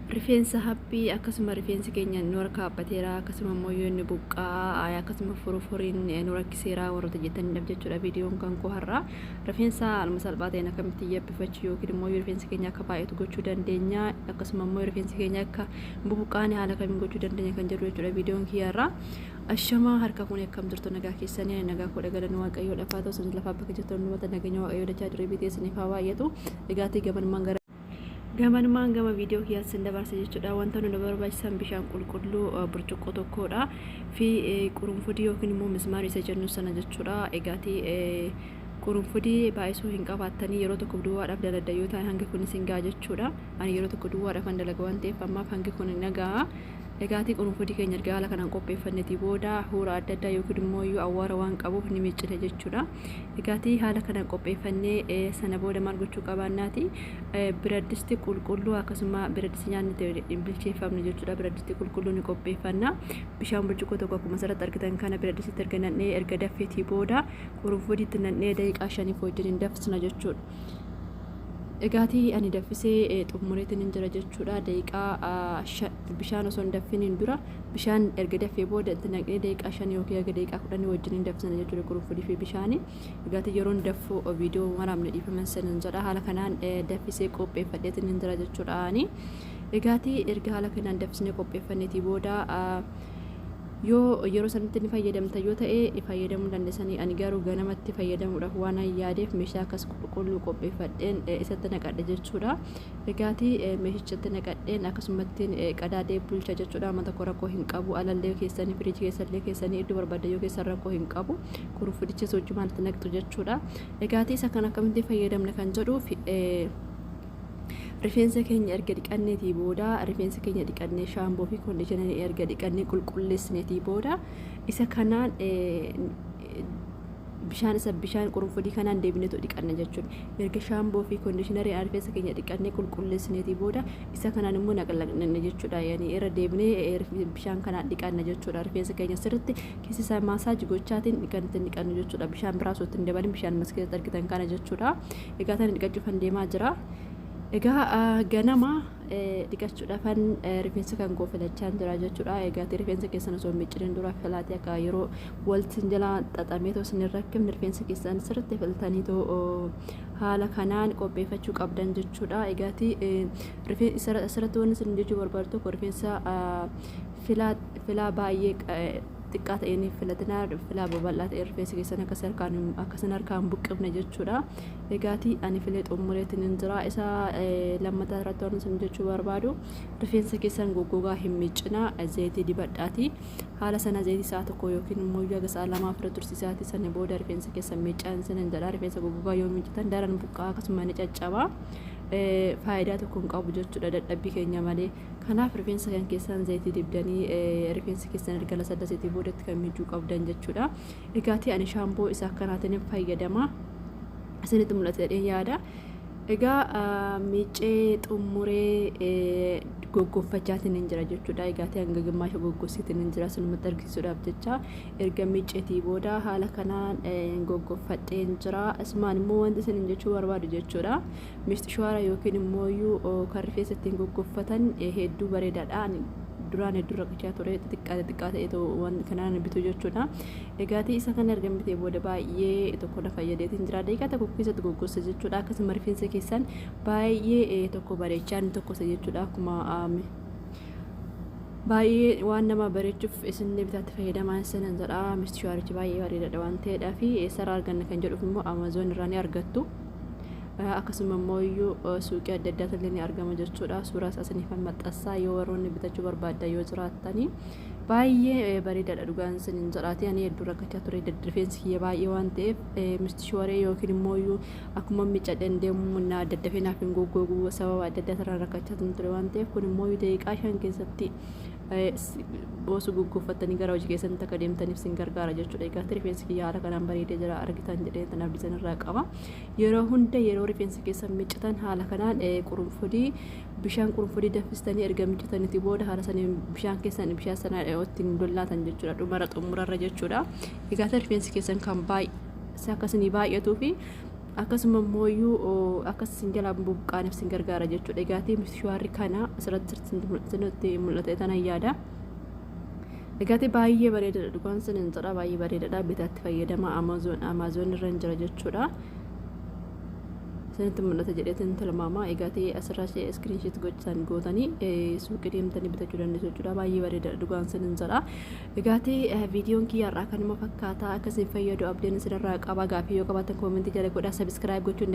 rifeensa haphii akkasuma rifeensi keenya nu harka haaphateera akkasuma immoo yoo inni buqqaa akkasuma furufuriin nu rakkiseera warroota jettaniidhaaf jechuudha viidiyoon kan koo har'a rifeensa haaluma salphaa ta'een akkamitti yabbifachuu yookiin immoo yoo rifeensi keenya akka baay'atu gochuu dandeenya akkasuma immoo rifeensi keenya akka bubuqqaane haala kamiin gochuu dandeenya kan jedhu jechuudha viidiyoon kiyyaarraa Ashamaa harka fuune akkam jirtu nagaa keessanii ani nagaa koodha galanni waaqayyoo dhafaa ta'u isin lafaa bakka jirtu hundumata nageenya waaqayyoo dachaa diree bitee isiniif haa baay'atu egaatii gamanmaan gara gamanmaan gama viidiyoo kiyyaatti isin dabarsa jechuudha wanta nu barbaachisan bishaan qulqulluu burcuqqoo tokkodha fi qurunfudii yookiin immoo mismaarii isa jennu sana jechuudha egaatii qurunfudii baay'isuu hin qabaattanii yeroo tokko duwwaadhaaf dalagda yoo ta'e hangi kun isin ga'a jechuudha ani yeroo tokko duwwaadhaaf an dalaga waan ta'eef ammaaf hangi kun nagaa Egaatii qurunfudi keenya erga haala kanaan qopheeffannetii booda huura adda addaa yookiin immoo iyyuu awwaara waan qabuuf ni miccina jechuudha. Egaatii haala kanaan qopheeffannee eh, sana booda maal gochuu qabaannaati? Eh, biraddisti qulqulluu akkasuma biraddisti nyaanni itti hin bilcheeffamne jechuudha. Biraddisti qulqulluu ni qopheeffanna. Bishaan burcuqqoo tokko akkuma asirratti argitan kana biraddistitti erga nannee erga daffeetii booda qurunfudiitti nannee daqiiqaa shaniif wajjin hin danfisna jechuudha. Egaati ani daffisee xummureetinin jira jechuudha daqiiqaa bishaan osoo hin daffiniin dura bishaan erga daffee booda itti naqnee daqiiqaa shan yookiin erga daqiiqaa kudhanii wajjin hin daffisana jechuudha qurunfudii fi bishaani egaati yeroon daffu viidiyoo waraabne dhiifama sinin jedha haala kanaan daffisee qopheeffadheetinin jira jechuudha ani egaati erga haala kanaan daffisnee qopheeffanneetii booda Yoo yeroo sanitti ni fayyadamtan yoo ta'e fayyadamuu hin dandesanii ani garuu ganamatti fayyadamuudhaaf waanan yaadeef meeshaa akkas qulqulluu qopheeffadheen isatti naqadhe jechuudha. Egaati meeshichatti naqadheen akkasumattiin qadaadee bulcha jechuudha amma tokko rakkoo hin qabu alallee keessanii firiijii keessallee keessanii iddoo barbaaddan yoo keessan rakkoo hin qabu kuruffudichas wajjumaan itti naqxu jechuudha. Egaati isa kan akkamittiin fayyadamna kan jedhuuf Rifeensa keenya erga dhiqanneetii booda rifeensa keenya dhiqannee shaamboo fi kondiishinarii erga dhiqannee qulqulleessineetii booda isa kanaan bishaan isa bishaan qurunfudii kanaan deebineetu dhiqanna jechuudha. Erga shaamboo fi kondiishinarii rifeensa keenya dhiqannee qulqulleessineetii booda isa kanaan immoo naqlaqnanna jechuudha. Yani irra deebinee bishaan kanaan dhiqanna jechuudha. Rifeensa keenya sirriitti keessa isaa maasaaji gochaatiin dhiqanna jechuudha. Bishaan biraa osoo ittiin dabalin bishaan mas keessatti argitan kana jechuudha. Egaa tana dhiqachuufan deemaa jira. Egaa ganama dhiqachuudhaafan rifeensa kan koo filachaan jira jechuudha. Egaa rifeensa keessan osoo micciriin dura filaatee akka yeroo waltiin jalaa xaxamee too isin rakkifne rifeensa keessan sirriitti filtanii too haala kanaan qopheeffachuu qabdan jechuudha. Egaa asirratti wanti isin jechuu barbaadu tokko rifeensa filaa baay'ee xiqqaa ta'een filatinaa filaa babal'aa ta'e rifeensi keessan akka harkaan akka sin harkaan buqqifne jechuudha. Egaati ani filee xumureetti nin jira isa lammataa irratti waan isin jechuu barbaadu rifeensa keessan goggogaa hin miiccinaa zayitii dibadhaati haala sana zayitii isaa tokko yookiin immoo yaga isaa lamaa fira tursiisaati sana booda rifeensa keessan miiccaan isin hin jedha rifeensa goggogaa yoo miiccitan daran buqqaa akkasuma ni caccaba. faayidaa tokko hin qabu jechuudha dadhabbii keenya malee Kanaaf rifeensa kan keessaan zayitii dibdanii rifeensi keessan erga lasallaseetii boodatti kan miicuu qabdan jechuudha. Egaatii ani shaamboo isa akkanaatiin hin fayyadama. Isinitti mul'ata jedhee yaada. Egaa miicee xumuree goggoffachaatiin hin jira jechuudha. Egaatii hanga gimmaasha goggossiitiin hin jira sinumatti argisiisuudhaaf jecha erga miiceetii booda haala kanaan goggoffadhee hin jira. Asumaan immoo wanti isin jechuu barbaadu jechuudha. Mistishwaara yookiin immooyyuu kan rifeensa ittiin goggoffatan hedduu bareedaadha. Ani duraan hedduu rakkachaa ture xixiqqaa xixiqqaa ta'etu waan kanaan bitu jechuudha. Egaatii isa kana erga bitee booda baay'ee tokko na fayyadeetiin jira. Daqiiqaa tokko keessatti goggossa jechuudha. Akkasuma rifeensa keessan baay'ee tokko bareechaa inni tokkosa jechuudha. Akkuma baay'ee waan nama bareechuuf isin bitaatti fayyadamaan sanan jedha. Mistishwaarichi baay'ee bareedaadha waan ta'eedhaa fi eessarraa arganna kan jedhuuf immoo Amazon irraa ni argattu. akkasuma immoo iyyuu suuqii adda addaatti illee ni argama jechuudha suuraas asiniifan maxxansaa yoo warroonni bitachuu barbaaddan yoo jiraattanii baay'ee bareedaadha dhugaan isin hin jedhaati ani hedduu rakkachaa ture rifeensi kiyya baay'ee waan ta'eef mistishooree yookiin immoo iyyuu akkuma miccadheen deemu na daddafee naaf hin goggoogu sababa adda addaa irraa rakkachaa ture waan ta'eef kun immoo daqiiqaa shan keessatti boosuu gugguuffattanii gara hojii keessanitti akka deemtaniif sin gargaara jechuudha. Egaa rifeensi kiyya haala kanaan bareedee jira argitan jedhee tan abdisan irraa qaba. Yeroo hunda yeroo rifeensa keessan miccitan haala kanaan qurunfudii bishaan qurunfudii danfistanii erga miccitaniiti booda haala saniin bishaan keessan bishaan sana ittiin dollaatan jechuudha. Dhumara xumurarra jechuudha. Egaa rifeensi keessan kan baay'ee akkasini baay'atuu fi akkasuma immooyyuu akka isin jalaa bubuqqaaniif isin gargaara jechuudha egaa tiimis shuwaarri kana asirratti sirriitti mul'ate tanan yaada egaati baay'ee bareedadha dhugaan sin hin jedha baay'ee bareedadha bitaatti fayyadama amazoon amazoon irra hin jira jechuudha isinitti mul'ata jedheetiin tilmaama egaati asirraa ishee iskiriinshiit gochaan gootanii suuqii deemtanii bitachuu dandeessu jechuudha baay'ee bareedadha dhugaan sin hin jedha Egaati viidiyoon kiyya har'aa kanuma fakkaata akka isin fayyadu abdiin isinirraa qaba gaaffii yoo qabaattan koomentii jala godhaa subscribe gochuun